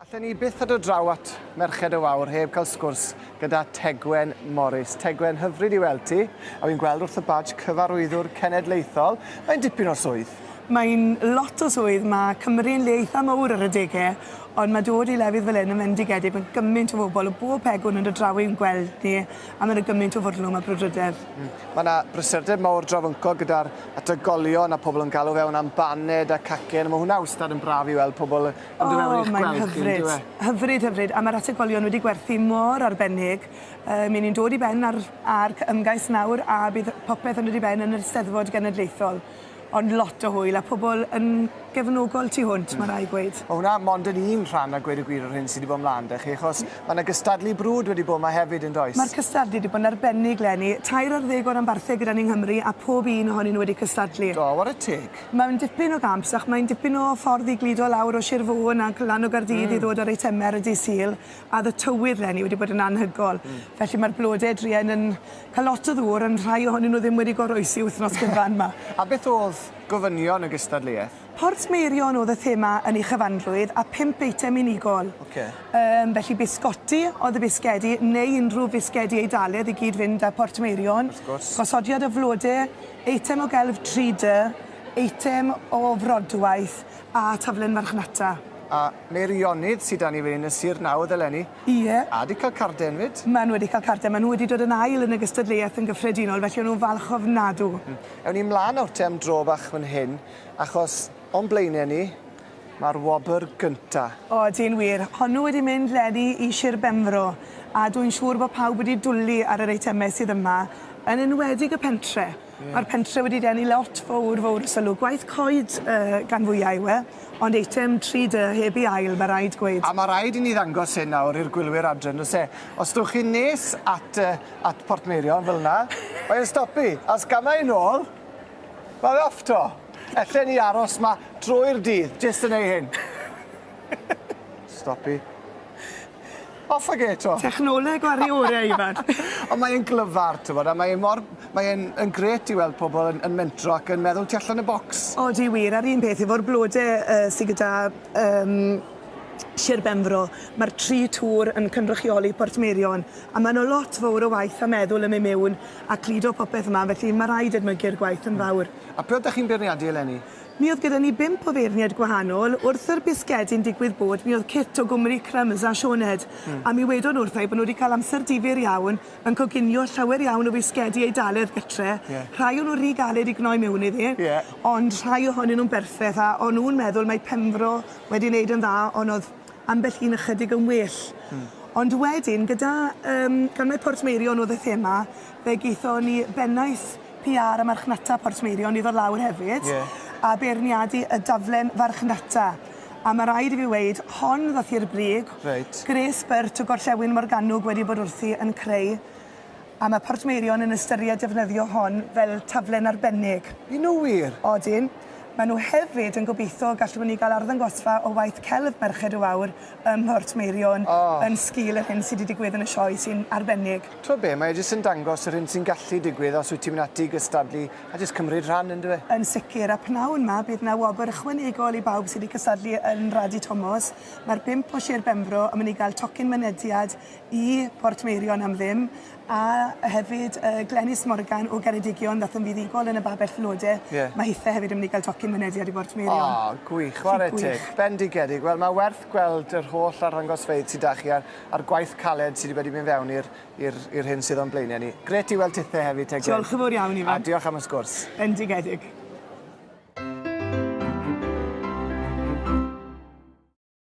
Allen ni byth ado draw at Merched y Wawr heb cael sgwrs gyda Tegwen Morris. Tegwen, hyfryd i weld ti, a fi'n gweld wrth y badge cyfarwyddwr cenedlaethol. Mae'n dipyn o swydd. Mae'n lot o swydd, mae Cymru'n le eitha mowr ar adegau, ond mae dod i lefydd fel hyn yn fendigedig, mae gymaint o fobl o bob pegwn yn dod draw i'n gweld ni, a mae yna gymaint o fwrlwm a brwdfrydedd. Mae yna brysurdeb mawr drawyncog gyda'r ategolion a pobl yn galw fewn am baned a cacen. Mae hwnna wastad yn braf i weld pobl yn dod mewn i'ch gweld chi, yndyw e? O, mae'n hyfryd. Hyfryd, hyfryd. A mae'r ategolion wedi gwerthu mor arbennig. Yy, mi ni'n dod i ben ar Arc Ymgais nawr a bydd popeth yn dod i ben yn yr Eisteddfod Genedlaethol. Ond lot o hwyl a pobl yn gefnogol tu hwnt, mae rhaid gweud. Mae hwnna mond yn un rhan a gweud y gwir o'r hyn sydd wedi bod mlaen 'da chi, achos mae 'na gystadlu brwd wedi bod 'ma hefyd yn does? Mae'r cystadlu wedi bod yn arbennig 'leni. Tair ar ddeg o ranbarthau gyda ni yng Nghymru a phob un ohonyn nhw wedi cystadlu. Do, ware teg. Mae'n dipyn o gamp, ac mae'n dipyn o ffordd i gludo lawr o Sir Fôn ac lan o Gaerdydd i ddod â'r eitemau ar y dydd Sul. Oedd y tywydd 'leni wedi bod yn anhygoel, felly mae'r blodau druan yn cael lot o ddŵr, ond rhai ohonyn nhw ddim wedi goroesi wythnos gyfan 'ma. A beth oedd gofynion y gystadleuaeth? Port Meirion oedd y thema yn ei chyfanrwydd, a phump eitem unigol. Ocê. Yym, felly bisgoti oedd y bisgedi, neu unrhyw fisgedi Eidalaidd i gyd-fynd â Port Meirion. Wrth gwrs. Gosodiad o flodau, eitem o gelf 3D, eitem o frodwaith, a taflen farchnata. A Meirionnydd sy 'da ni fan hyn yn Sir Nawdd eleni. Ie. A 'di cael carden 'fyd. Maen nhw wedi cael carden. Maen nhw wedi dod yn ail yn y gystadleuaeth yn gyffredinol, felly o'n nhw'n falch ofnadw. Ewn ni mlaen nawr te am dro bach fan hyn, achos o'n blaenau ni, mae'r wobr gynta. O, di'n wir. Honnw wedi mynd 'leni i Shir Benfro, a dw'n siŵr bod pawb wedi dwli ar yr eitemau sydd yma, yn enwedig y pentre. Mae'r pentre wedi denu lot fowr, fowr o sylw. Gwaith coed gan fwya yw e, ond eitem tri dy heb i ail, mae rhaid gweud. A mae rhaid i ni ddangos hyn nawr i'r gwylwyr adre, yn does e? Os dowch chi'n nes at at Portmeirion fel 'na, mae e'n stopu, a os gamau yn ôl, mae fe off 'to. Ellen ni aros 'ma drwy'r dydd, jyst yn neu hyn. Stopu. Off ag e 'to. Technoleg o aru ore Ifan. Ond mae e'n glyfar t'mod a mae e mor mae e'n yn grêt i weld pobol yn yn mentro ac yn meddwl tu allan y bocs. Odi wir a'r un peth efo'r blode yy sy gyda yym Sir Benfro ma'r tri tŵr yn cynrychioli Portmeirion a ma' 'na lot fowr o waith a meddwl yn myn' miwn a cludo popeth yma felly ma' raid edmygu'r gwaith yn fawr. A pwy oddach chi'n beirniadu eleni? Mi oedd gyda ni bump o feirniaid gwahanol, wrth yr bisgedi'n digwydd bod, mi oedd Kit o Gwmri Crumbs a Sioned, a mi wedon wrtha i bod nhw wedi cael amser difyr iawn yn coginio llawer iawn o fisgedi Eidaledd gytre, rhai o nhw rhy galed i gnoi mewn iddi, ond rhai ohonyn nhw'n berffeth, a o'n nhw'n meddwl mae Penfro wedi neud yn dda, ond oedd ambell un ychydig yn well. Ond wedyn, gyda, yym, gan mai Portmeirion oedd y thema, Fe gaethon ni bennaeth PR a marchnata Portmeirion i ddod lawr hefyd a beirniadu y daflen farchnata, a ma' raid i fi weud, hon ddoth i'r brig, gwres byrt o gorllewin Morgannwg wedi bod wrthi yn creu, a ma' Portmeirion yn ystyried defnyddio hon fel taflen arbennig. Y'n nhw wir? Odyn. Maen nhw hefyd yn gobeithio gallwn ni gael arddangosfa o waith celf Merched y Wawr ym Mhortmeirion yn sgil yr hyn sydd wedi digwydd yn y Sioe sy'n arbennig. T'wod be, mae e jyst yn dangos yr hyn sy'n gallu digwydd os wyt ti'n mynd ati i gystadlu a jyst cymryd rhan yn dyw e? Yn sicr, a p'nawn 'ma bydd 'na wobr ychwanegol i bawb sydd wedi cystadlu yn Radi Tomos. Mae'r bump o Sir Benfro yn mynd i gael tocyn mynediad i Portmeirion am ddim, a hefyd yy Glenys Morgan o Geredigion ddaeth yn fuddugol yn y Babell Flode, mae hithe hefyd yn mynd i gael tocyn mynediad i Bortmeirion. O, gwych, chwarae teg. Bendigedig. Wel, mae werth gweld yr holl arddangosfeydd sydd 'da chi ar a'r gwaith caled sydd wedi mynd fewn i'r i'r i'r hyn sydd o'n blaenau ni. Gret i weld tithe hefyd te Gwyn. Diolch yn fawr iawn Ifan. A diolch am y sgwrs. Bendigedig.